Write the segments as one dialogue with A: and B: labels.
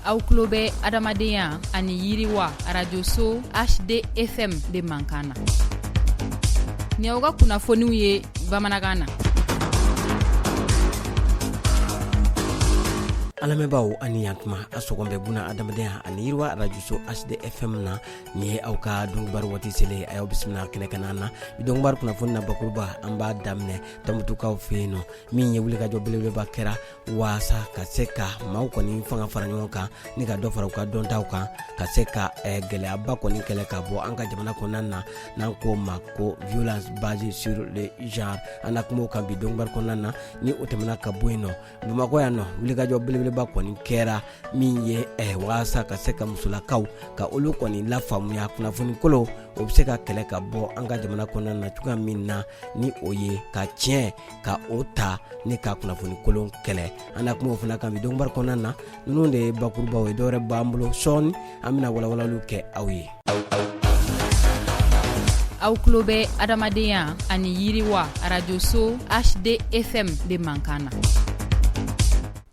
A: aw tulo bɛ adamadenya ani yiriwa arajoso hdfm de mankan na ni aw ka kunnafoniw ye bamanankan na
B: an lamɛnbaaw ani yantuma a sɔgɔn bɛ buna adamadenya ani yiriwa arajoso hdfm na nin ye aw ka donkibaru waati selen a y'aw bisimila kɛnɛ kana na bi donkibaru kunnafoni na bakuruba an b'a daminɛ tɔnbutukaw fɛ yen nɔ min ye wulikajɔ belebeleba kɛra waasa ka se ka maaw kɔni fanga fara ɲɔgɔn kan ni ka dɔ fara u ka dɔntaw kan ka se ka eh, gɛlɛyaba kɔni kɛlɛ ka bɔ an ka jamana kɔnɔna na n'an k'o ma ko violence basée sur le genre an na kuma o kan bi donkibaru kɔnɔna na ni o tɛmɛna ka bɔ yen nɔ bamakɔ yan nɔ wulikajɔ belebeleba kɔni kɛra min ye eh, waasa ka se ka musolakaw ka olu kɔni lafaamuya kunnafoni kolon o bɛ se ka kɛlɛ ka bɔ an ka jamana kɔnɔna na cogoya min na ni o ye ka tiɲɛ ka o ta ni ka kunnafoni kolon kɛlɛ an na kuma o fana kan bi donkibaru kɔnɔna na ninnu de ye bakurubaw ye dɔwɛrɛ b'an bolo sɔɔni an bɛna walawalaliw kɛ aw ye
A: aw tulo bɛ adamadenya ani yiriwa arajoso hdfm de mankan na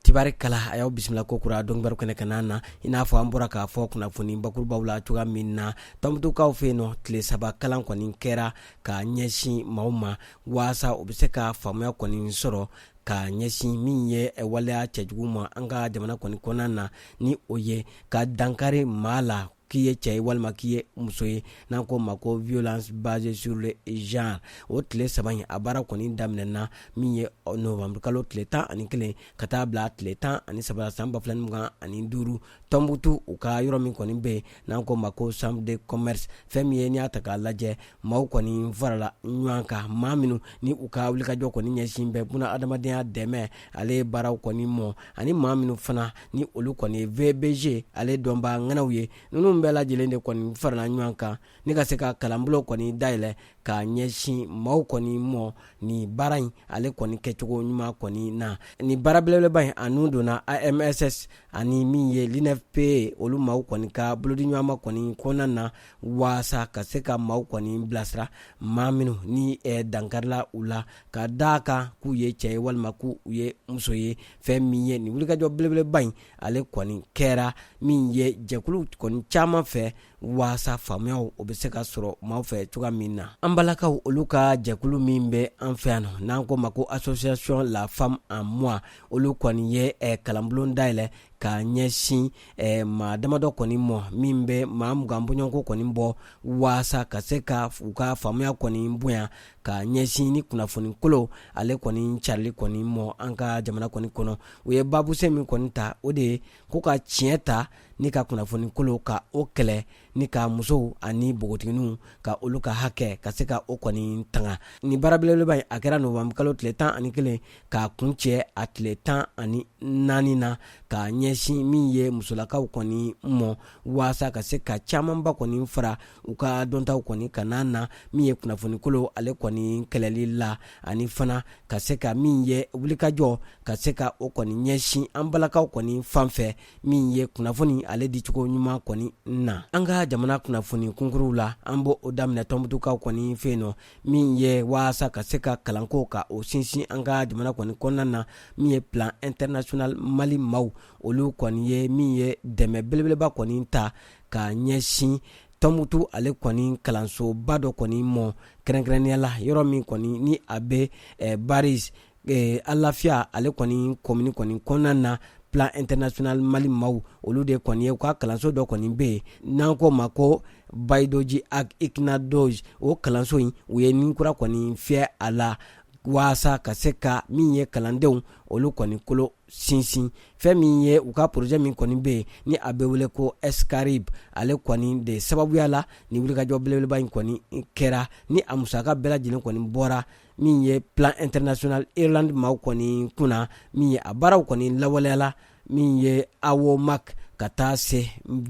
B: tibari kala a y'aw bisimila kokura donkibaru kɛnɛ kana na i n'a fɔ an bɔra k'a fɔ kunnafoni bakurubaw la cogoya min na tɔnbutukaw fɛ yen nɔ tile saba kalan kɔni kɛra ka ɲɛsin maaw ma waasa u bɛ se ka faamuya kɔni sɔrɔ ka ɲɛsin min ye waleya cɛjugu ma an ka jamana kɔni kɔnɔna na ni o ye ka dankari maa la k'i ye cɛ ye walima k'i ye muso ye n'an k'o ma ko violence basée sur le genre o tile saba in a baara kɔni daminɛna min ye novembre kalo tile tan ani kelen ka taa bila tile tan ani saba la san ba fila ni mugan ani duuru tɔnbutu u ka yɔrɔ min kɔni bɛ yen n'an k'o ma ko chambre de commerce fɛn min ye n'i y'a ta k'a lajɛ maaw kɔni farala ɲɔgɔn kan maa minnu ni u ka wulikajɔ kɔni ɲɛsin bɛ buna adamadenya dɛmɛ ale baaraw kɔni mɔ ani maa minnu fana ni olu kɔni ye vbg ale dɔnbaa ŋanaw ye ninnu bɛɛ lajɛlen de kɔni farala ɲɔgɔn kan ni ka se ka kalanbolo kɔni dayɛlɛ ka ɲɛsin maaw kɔni mɔ ni baara in ale kɔni kɛcogo ɲuman kɔni na ni baara belebeleba in a nun donna amss ani min ye l'unfpa olu maaw kɔni ka bolodiɲɔgɔnma kɔni kɔnɔna na waasa ka se ka maaw kɔni bilasira maa minnu ni eh, dankarila u la ka da a kan k'u ye cɛ ye walima k'u ye muso ye fɛn min ye nin wulikajɔ belebeleba in ale kɔni kɛra min ye jɛkulu kɔni caman fɛ waasa faamuya o bɛ se ka sɔrɔ maaw fɛ cogoya min na an balakaw olu ka jɛkulu min bɛ an fɛ yan n'an k'o ma ko association la femme en moi olu kɔni ye eh, kalanbulon dayɛlɛ ka ɲɛsin eh, maa damadɔ kɔni mɔ min bɛ maa mugan bɔɲɔgɔnko kɔni bɔ waasa ka se ka u ka faamuya kɔni bonya ka ɲɛsin ni kunnafoni kolo ale kɔni carili kɔni mɔ an ka jamana kɔni kɔnɔ u ye baabusen min kɔni ta o de ye ko ka tiɲɛ ta ni ka kunnafoni kolo ka o kɛlɛ ni ka musow ani npogotigininw ka olu ka hakɛ ka se ka o kɔni tanga ni baara belebeleba in a kɛra novembre kalo tile tan ani kelen k'a kuncɛ a tile tan ani naani na ka ɲɛsin min ye musolakaw kɔni mɔ waasa ka se ka camanba kɔni fara u ka dɔntaw kɔni kan na min ye kunnafoni kolo ale kɔni kɛlɛli la ani fana ka se ka min ye wulikajɔ ka se ka o kɔni ɲɛsin an balakaw kɔni fan fɛ min ye kunnafoni ale dicogo ɲuman kɔni na an ka jamana kunnafoni kunkuruw la an b'o o daminɛ tɔnbutukaw kɔni fɛ yen nɔ min ye waasa ka se ka kalanko ka o sinsin an ka jamana kɔni kɔnɔna na min ye plan international mali maaw olu kɔni ye min ye dɛmɛ belebeleba kɔni ta ka ɲɛsin tɔnbutu ale kɔni kalansoba dɔ kɔni mɔ kɛrɛnkɛrɛnnenya la yɔrɔ min kɔni ni a bɛ eh, baris ee alafiya ale kɔni kɔmini kɔni kɔnɔna na plan international mali maaw olu de kɔni ye u ka kalanso dɔ kɔni bɛ yen n'an k'o ma ko bayidoji ag iknado o kalanso in u ye nin kura kɔni fiyɛ a la waasa ka se ka min ye kalandenw olu kɔni kolo sinsin fɛn min ye u ka projet min kɔni bɛ yen ni a bɛ wele ko sqribe ale kɔni de sababuya la ni wulikajɔ belebeleba in kɔni kɛra ni a musaka bɛɛ lajɛlen kɔni bɔra min ye plan international Irlande maaw kɔni kunna min ye a baaraw kɔni lawaleyala min ye awomak ka taa se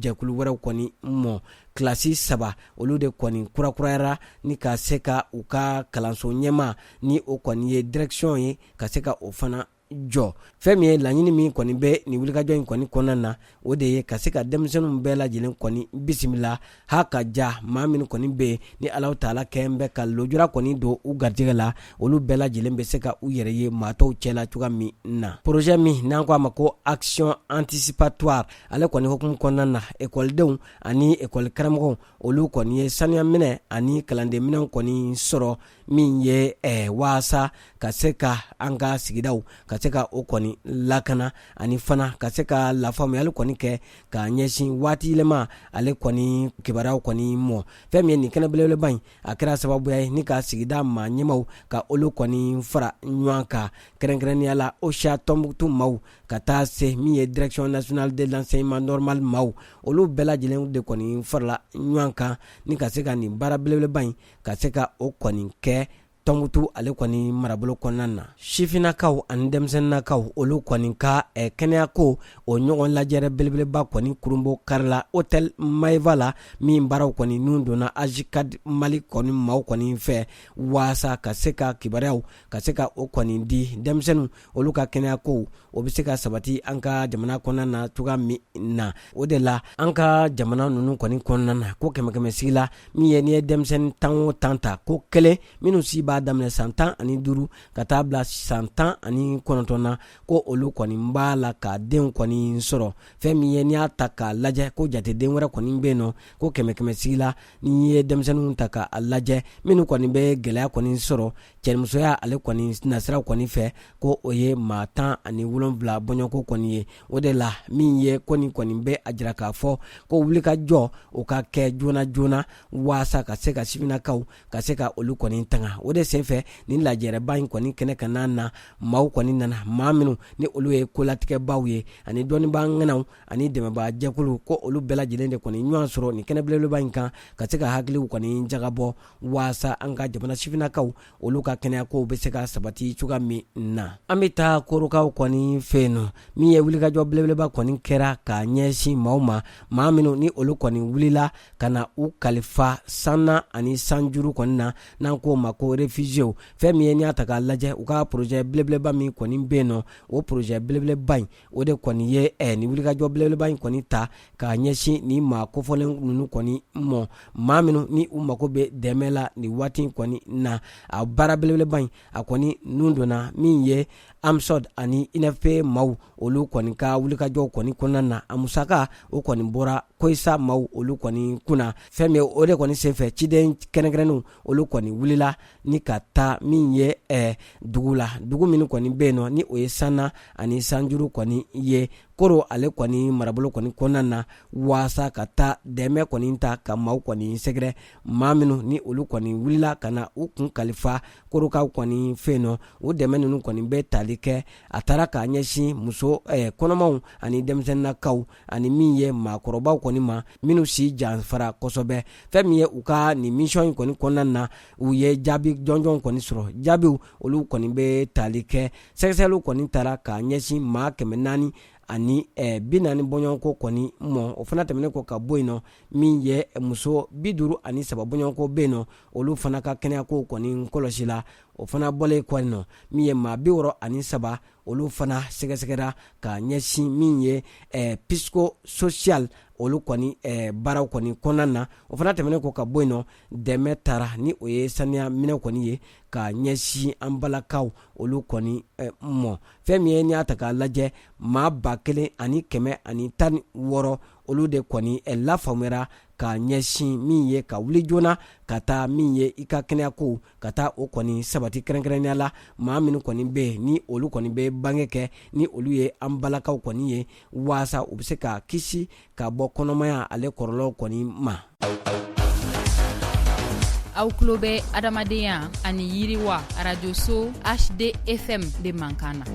B: jɛkulu wɛrɛw kɔni mɔ kilasi saba olu de kɔni kurakurayara ni ka se ka u ka kalanso ɲɛma ni o kɔni ye direction ye ka se ka o fana jɔ fɛn min ye laɲini min kɔni bɛ nin wulikajɔ in kɔni kɔnɔna na o de ye ka se ka denmisɛnninw bɛɛ lajɛlen kɔni bisimila ha ka ja maa minnu kɔni bɛ yen ni alahu taala kɛn bɛ ka lojura kɔni don u garijɛgɛ la olu bɛɛ lajɛlen bɛ se ka u yɛrɛ ye maa tɔw cɛla cogoya min na projet min n'an ko a ma ko action anticipatoire ale kɔni hukumu kɔnɔna na ekɔlidenw ani ekɔli karamɔgɔw olu kɔni ye sanuya minɛn ani kalanden minɛnw kɔni sɔrɔ min ye eh, waasa ka se ka an ka sigidaw ka se ka o kɔni lakana ani fana ka se ka lafaamuyali kɔni kɛ ka ɲɛsin waati yɛlɛma ale kɔni kibaruyaw kɔni mɔ fɛn min ye nin kɛnɛ belebeleba in a kɛra sababuya ye ni ka sigida maa ɲɛmaw ka olu kɔni fara ɲɔgɔn kan kɛrɛnkɛrɛnnenya la ocha tɔnbukutu maaw ka taa se min ye direction nationale de l'enseignement normal maaw olu bɛɛ lajɛlen de kɔni farala ɲɔgɔn kan ni ka se ka nin baara belebeleba in ka se ka o kɔni kɛ tɔnbukutu ale kɔni marabolo kɔnɔna na sifinnakaw ani denmisɛnninakaw olu kɔni ka eh, kɛnɛyako o ɲɔgɔn lajɛrɛ belebeleba kɔni kurunbonkarila hôtel maeva la min baaraw kɔni nun donna ajcad mali kɔni maaw kɔni fɛ waasa ka se ka kibaruyaw ka se ka o kɔni di denmisɛnninw olu ka kɛnɛya ko o bɛ se ka sabati an ka jamana kɔnɔna na cogoya min na o de la an ka jamana ninnu kɔni kɔnɔna na ko kɛmɛkɛmɛsigi la min ye n'i ye denmisɛnnin tan o tan ta ko kelen minnu si b'a daminɛ san tan ani duuru ka taa bila san tan ani kɔnɔntɔn na ko olu kɔni b'a la ka denw kɔni sɔrɔ fɛn min ye n'i y'a ta k'a lajɛ ko jateden wɛrɛ kɔni bɛ yen nɔ ko kɛmɛkɛmɛsigi la n'i ye denmisɛnninw ta k'a lajɛ minnu kɔni bɛ gɛlɛya kɔni sɔrɔ cɛnimusoya ale kɔni nasiraw kɔni fɛ ko o ye maa tan ani wolonwula bɔɲɔgɔnko kɔni ye o de la min ye ko nin kɔni bɛ a jira k'a fɔ ko wulikajɔ o ka kɛ joona joona waasa ka se ka sifinnakaw ka se ka olu kɔni tanga o de senfɛ nin lajɛrɛba in kɔni kɛnɛ kanna na maaw kɔni nana maa minnu ni olu ye kolatigɛbaaw ye ani dɔnnibaa ŋanaw ani dɛmɛbaa jɛkulu ko olu bɛɛ lajɛlen de kɔni ɲɔgɔn sɔrɔ nin kɛnɛ belebeleba in kan ka se ka hakiliw kɔni jagabɔ waasa an ka jamana sifinnakaw olu ka kɛnɛya kow be se ka sabati cogoya min na an be taa korokaw kɔni fɛ yen nɔ min ye wulikajɔ belebeleba kɔni kɛra ka ɲɛsin maaw ma maa minw ni olu kɔni wulila ka na u kalifa sanna ani sanjuru kɔni na n'an k'o ma ko refugiyew fɛn min ye n'i y'a ta k'a lajɛ u ka porozɛ belebeleba min kɔni be yen nɔ o porozɛ belebeleba in o de kɔni ye eh, ni wulikajɔ belebeleba in kɔni ta k'a ɲɛsin ni maa kofɔlen ninnu kɔni mɔ maa minnu ni u mago bɛ dɛmɛ la nin waati in kɔni na a baara belebeleba in a kɔni nun donna min ye amsode ani unfpa maaw olu kɔni ka wulikajɔw kɔni kɔnɔna na a musaka o kɔni bɔra koica maaw olu kɔni kunna fɛn min o de kɔni senfɛ ciden kɛrɛnkɛrɛnnenw olu kɔni wulila ni ka taa min ye eh, dugu la dugu minnu kɔni bɛ yen nɔ ni o ye sanna ani sanjuru kɔni ye koro ale kɔni marabolo kɔni kɔnɔna na waasa ka taa dɛmɛ kɔni ta ka maaw kɔni sɛgɛrɛ maa minnu ni olu kɔni wulila ka na u kun kalifa korokaw kɔni fɛ yen nɔ o dɛmɛ ninnu kɔni bɛ tali kɛ a taara k'a ɲɛsin muso eh, kɔnɔmaw ani denmisɛnninakaw ani min ye maakɔrɔbaw kɔni ma minnu si janfara kosɛbɛ fɛn min ye u ka nin misɔn in kɔni kɔnɔna na u ye jaabi jɔnjɔn kɔni sɔrɔ jaabiw olu kɔni bɛ tali kɛ sɛgɛsɛgɛliw kɔni tara k'a ɲɛsin maa kɛmɛ naani ani eh, bi naani bɔɲɔgɔnko kɔni mɔ o fana tɛmɛnen kɔ ka bɔ yen nɔ min ye muso bi duuru ani saba bɔɲɔgɔnko bɛ yen nɔ olu fana ka kɛnɛyakow kɔni kɔlɔsi la o fana bɔlen kɔ yen nɔ min ye maa bi wɔɔrɔ ani saba olu fana sɛgɛsɛgɛra ka ɲɛsin min ye eh, psychosocial olu kɔni eh, baaraw kɔni kɔnɔna na o fana tɛmɛnen kɔ ka bɔ yen nɔ dɛmɛ tara ni o ye saniya minɛnw kɔni ye ka ɲɛsin an balakaw olu kɔni eh, mɔ fɛn min ye n'i y'a ta k'a lajɛ maa ba kelen ani kɛmɛ ani tan ni wɔɔrɔ olu de kɔni eh, lafaamuyara ka ɲɛsin min ye ka wuli joona ka taa min ye i ka kɛnɛyako ka taa o kɔni sabati kɛrɛnkɛrɛnnenya la maa minnu kɔni bɛ yen ni olu kɔni bɛ bange kɛ ni olu ye an balakaw kɔni ye waasa u bɛ se ka kisi ka bɔ kɔnɔmaya ale kɔrɔlɔw kɔni
A: ma aw tulo bɛ adamadenya ani yiriwa arajoso hdfm de mankan na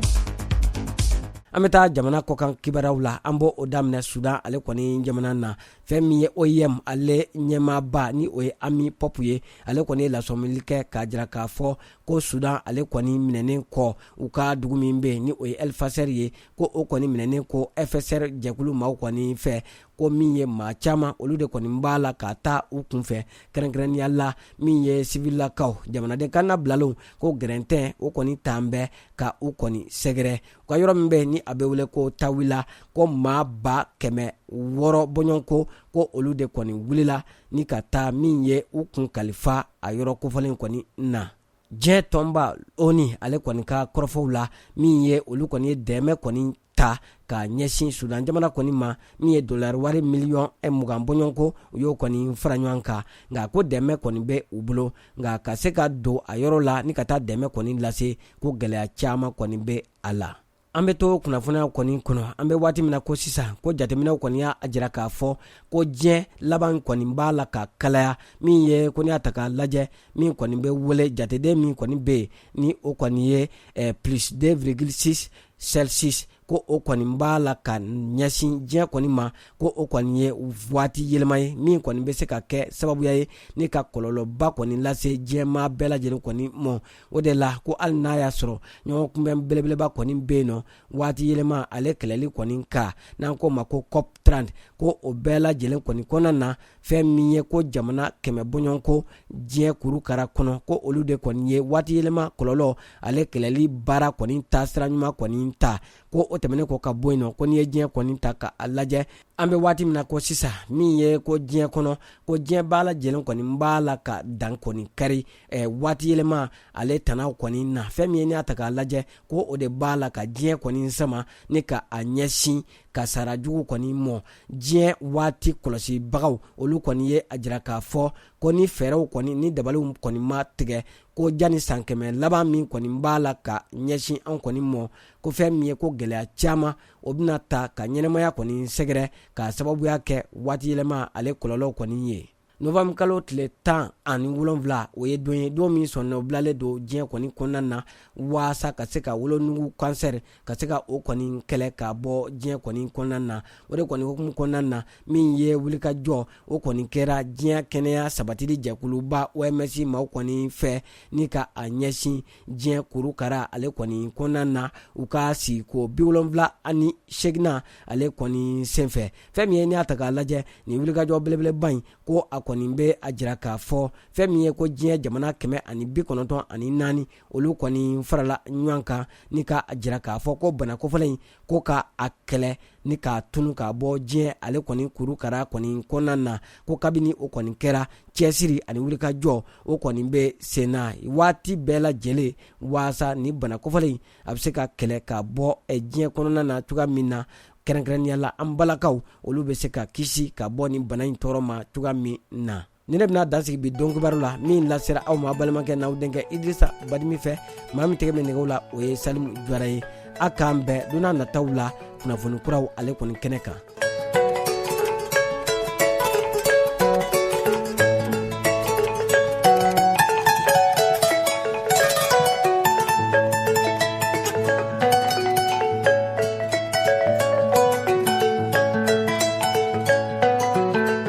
B: an bɛ taa jamana kɔkan kibaraw la an b'o daminɛ sudan ale kɔni jamana na fɛn min ye oim ale ɲɛmaaba ni o ye ami pɔp ye ale kɔni ye lasɔmili kɛ k'a jira k'a fɔ ko sudan ale kɔni minɛnen kɔ u ka dugu min bɛ ni o ye el fasher ye ko o kɔni minɛnen kɔ fsr jɛkulu maaw kɔni fɛ ko min ye maa caman olu de kɔni b'a la ka taa u kunfɛ kɛrɛnkɛrɛnnenya la min ye sivilakaw jamanaden kanna bilalenw ko gɛrɛntɛ o kɔni tun bɛ ka u kɔni sɛgɛrɛ u ka yɔrɔ min bɛ ni a bɛ wele ko tawila ko maa ba kɛmɛ wɔɔrɔ bɔɲɔgɔnko ko olu de kɔni wulila ni ka taa min ye u kun kalifa a yɔrɔ kofɔlen kɔni na diɲɛ tɔnba onu ale kɔni ka kɔrɔfɔw la min ye olu kɔni ye dɛmɛ kɔni ta ka ɲɛsin sudan jamana kɔni ma min ye dolari wari miliyɔn mugan bɔɲɔgɔnko u y'o kɔni fara ɲɔgɔn kan nka ko dɛmɛ kɔni bɛ u bolo nka ka se ka don a yɔrɔ la ni ka taa dɛmɛ kɔni lase ko gɛlɛya caman kɔni bɛ a la an bɛ to kunnafoniya kɔni kɔnɔ an bɛ waati min na ko sisan ko jateminɛw kɔni y'a jira k'a fɔ ko diɲɛ laban kɔni b'a la ka kalaya min ye ko n'i y'a ta k'a lajɛ min kɔni bɛ wele jateden min kɔni bɛ yen ni o kɔni ye eh, plus 2,6 celsius ko o kɔni b'a la ka ɲɛsin diɲɛ kɔni ma ko o kɔni ye waati yɛlɛma ye min kɔni bɛ se ka kɛ sababuya ye ni ka kɔlɔlɔba kɔni lase diɲɛmaa bɛɛ lajɛlen kɔni mɔ o de la ko hali n'a y'a sɔrɔ ɲɔgɔn kunbɛn belebeleba kɔni bɛ yen nɔ waati yɛlɛma ale kɛlɛli kɔni kan n'an k'o ma ko cop 30 ko o bɛɛ lajɛlen kɔni kɔnɔna na fɛn min ye ko jamana kɛmɛ bɔɲɔgɔnko diɲɛ kurukara kɔnɔ ko olu de kɔni ye waatiyɛlɛma kɔlɔlɔ ale kɛlɛli baara kɔni taasira ɲuman kɔni ta ko o tɛmɛnen kɔ ka bɔ yen nɔ ko n'i ye diɲɛ kɔni ta ka a lajɛ an bɛ waati min na ko sisan min ye ko diɲɛ kɔnɔ ko diɲɛ bɛɛ lajɛlen kɔni b'a la ka dan kɔni kari eh, waatiyɛlɛma ale tanaw kɔni na fɛn min ye n'i y'a ta k'a lajɛ ko o de b'a la ka diɲɛ kɔni sama ni ka a ɲɛsin kasara jugu kɔni mɔ diɲɛ waati kɔlɔsibagaw olu kɔni ye a jira k'a fɔ ko ni fɛɛrɛw kɔni ni dabaliw kɔni ma tigɛ ko jani san kɛmɛ laban min kɔni b'a la ka ɲɛsin anw kɔni mɔ ko fɛn min ye ko gɛlɛya caman o bɛna ta ka ɲɛnɛmaya kɔni sɛgɛrɛ k'a sababuya kɛ waatiyɛlɛma ale kɔlɔlɔw kɔni ye novanburukalo tile tan ani wolonwula o ye don ye don min sɔnnɔ bilalen don diɲɛ kɔni kɔnɔna na waasa ka se ka wolonugu kansɛri ka se ka o kɔni kɛlɛ ka bɔ diɲɛ kɔni kɔnɔna na o de kɔni hukumu kɔnɔna na min ye wulikajɔ o kɔni kɛra diɲɛ kɛnɛya sabatili jɛkuluba oms maaw kɔni fɛ ni ka a ɲɛsin diɲɛ kurukara ale kɔni kɔnɔna na u ka sigiko bi wolonwula ani segina ale kɔni senfɛ fɛn min ye n'i y'a ta k'a lajɛ nin wulikajɔ belebeleba in ko a kɔni bɛ a jira k'a fɔ fɛn min ye ko diɲɛ jamana kɛmɛ ani bi kɔnɔntɔn ani naani olu kɔni farala ɲɔgɔn kan ni ka a jira k'a fɔ ko bana kofɔlen in ko ka a kɛlɛ ni k'a tunu k'a bɔ diɲɛ ale kɔni kurukara kɔni kɔnɔna na ko kabini o kɔni kɛra cɛsiri ani wulikajɔ o kɔni bɛ sen na waati bɛɛ lajɛlen waasa nin bana kofɔlen in a bɛ se ka kɛlɛ ka bɔ eh, diɲɛ kɔnɔna na cogoya min na kɛrɛnkɛrɛnnenya la an balakaw olu bɛ se ka kisi ka bɔ nin bana in tɔɔrɔ ma cogoya min na nin de bɛna dan sigi bi don kibaru la min lasera aw ma balimakɛ n'aw denkɛ idrisa badimi fɛ maa min tɛgɛ bɛ nɛgɛw la o ye salimu jara ye a k'an bɛn don nataw la kunnafoni kuraw ale kɔni kɛnɛ kan